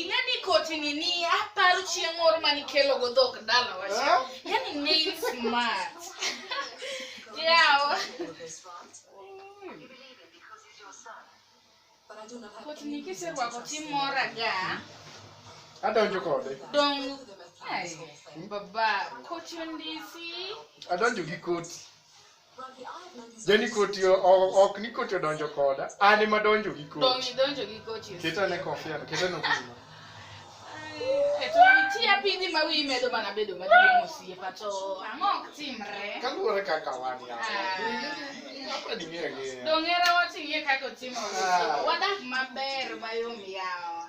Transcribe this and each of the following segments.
ing'e ni kotini ni aparo chieng' moro mane ikelogo dhok dalawa cha yani ne in smart yawa kotini kiserwako timora ga Adonjo kode. dong ai baba koti ondisi Adonjo gi koti. Jeni koti o- o- ok ni koti odonjo koda. An ema donjo gi Dong' koti. idonjo gi koti. Keta ne kofia, keta ne kofia. E to nitie piny ma wiyi medo mana bedo maduong' osiepa to ang'o ok timre? Kaluwore kaka wan ya. Hapa ni ng'eyo ng'eyo. Dong'era wating'e kaka otimore. Ah. Wadak maber mayom yawa.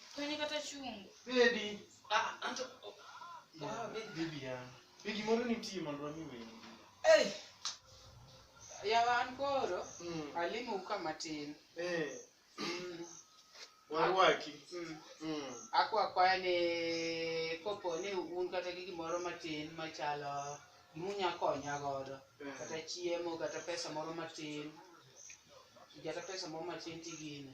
Kwenye kata chungu. Baby. Ah, anto. Ah, baby. Baby ya. Be gimoro nitie mondo wami wendi. Hey. Yawa an koro Mm. alimo uka matin. Eh. Mm. Warwaki. Mm. Mm. Akwa akwaya ni kopo ni un kata gi gimoro matin machalo gimunya konya godo. Eh. Kata chiemo kata pesa moro matin. Kata pesa moro matin tigine.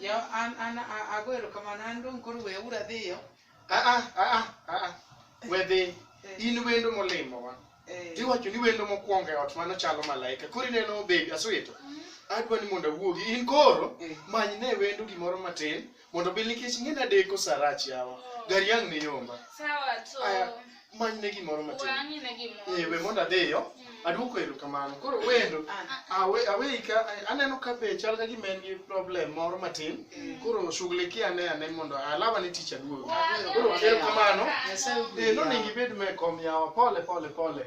Yo an an a- ago erokamano an dong' koro weuru adhiyo. Ah, ah, ah, ah, ah, ah. we dhi Eh, in wendo molimowa eh, tiwacho ni wendo mokwongo e ot mano chalo malaika koro ineno bebi aswito adwa ni mondo awuogi in koro eh. many ne wendo gimoro matin mondo bil nikech ing'e nadeko sarach yawa gari ang' ni yomba Sawa to. Aya. manyne gimoro We matin ang'ine gimoro. Eh, we mondo adhiyo Mm. aduoko erokamano koro wendo awe aweyi ka aneno ka be chal ka gima en gi problem moro matin koro shughuliki ane ane mondo alawa ni tich aduogo koro erokamano eh, nonego ibed me kom yawa pole pole pole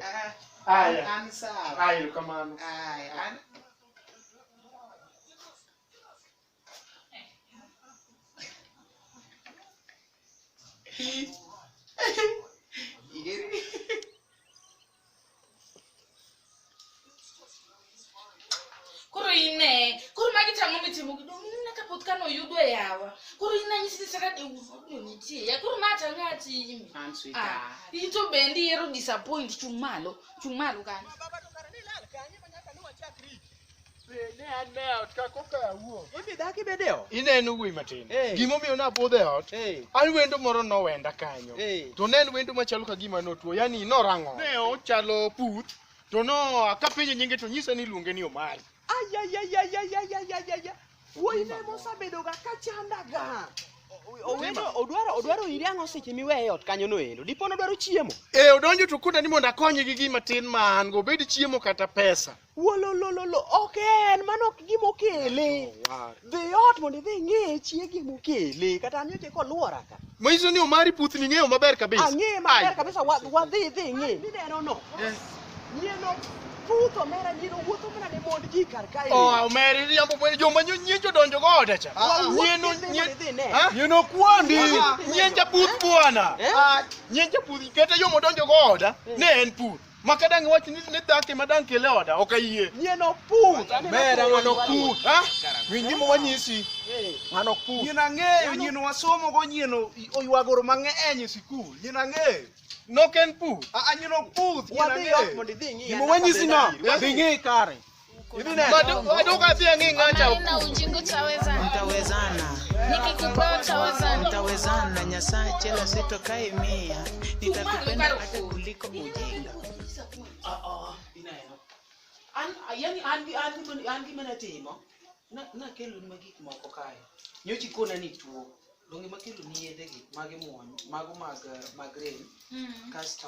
aya An sawa. aya erokamano Aya, an koro ine koro magi tang'o mitimo gi dong ine ka pot kano yudo e yawa koro ine anyisi ni saka dewuodno nitie ya koro ma tang'o atimi An sweetheart. Ah, in to bendi ihero disappoint chung' malo chung' malo kanyo Ibi dak ibed e ot. Ineno wuoyi matin. Hey. Gimomiyo nabudho e ot, Hey. an wendo moro nowenda kanyo. Hey. To ne en wendo machalo ka gima notuo, yani norang'o. Ne ochalo puth, to no akapenje nyinge to nyisa ni iluonge ni Omari. Ayayayayayayayayaya. Wuoyi ne mosabedoga ka chandaga. Owendo odwaro odwaro iri ang'o seche miweye e ot kanyo noendo. Dipo nodwaro chiemo. E odonjo to koda ni mondo akonye gi gima tin ma an go, obed chiemo kata pesa. Wololololo, ok en, mano ok gima okele. Dhi ot mondo idhi ing'e chiegi mokele. Kata an nyocha koluora ka. Manyiso ni Omari puth ni ng'eyo maber kabisa. Ang'e maber Ai. kabisa wa- wadhi idhi ing'e. Mineno no. Eh. Nyieno puth omera nyieno wuotho mana ne mond ji kar kae. Oh, Omeri riambo mwe joma nyo- nyien jodonjo go oda cha. Wawuok Nyien o- idhi nyien- mondo idhi ine. Ha? Nyien okwandi. Nyien japuth bwana. Eh? Nyien japuth kata yo modonjo go oda ne en puth. Ma ka dang' iwach ni ni dhako ema dang' kele oda, ok ayie. Nyien ok put. Aneno Ber puodho ng'ano wadu. kut. Ha? Winj gima wanyisi. Eh. Ng'ano kut. Nyien ang'eyo, nyien wasomo go nyien o- oywagoro mang'eny e sikul. Nyien ang'eyo. Nok en pu. A a nyien ok puth, nyien Wadhi ot ang'eyo. mondo idhi ing'i. Gima wanyisi no, dhi ng'i kare. Maneno ujinga utawezana. Mtawezana, Nikikupa utawezana. mtawezana, Nyasaye chela sitokai mia, nitakupenda hata kuliko ujinga. An, yani an gi an gi an gima natimo na nakelo ni gik moko kae nyochi kona ni tuo donge makelo ni yedhe gi mage muony mago mag eh, mag rem kasto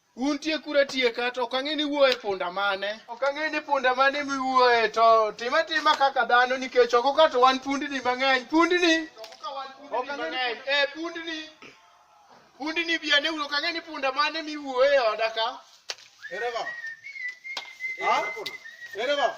Un tieku ratieka to ok ang'e ni wuoye punda mane. Ok ang'e ni punda mane miwuoye to tim atima kaka dhano nikech oko ka to wan pundni mang'eny. Pundni. Ok ang'e ni punda- Eh, pundni. Pundni bi ane uru ok ang'e ni punda mane miwuoye e oda ka. Ere baba? Ha? Ere baba?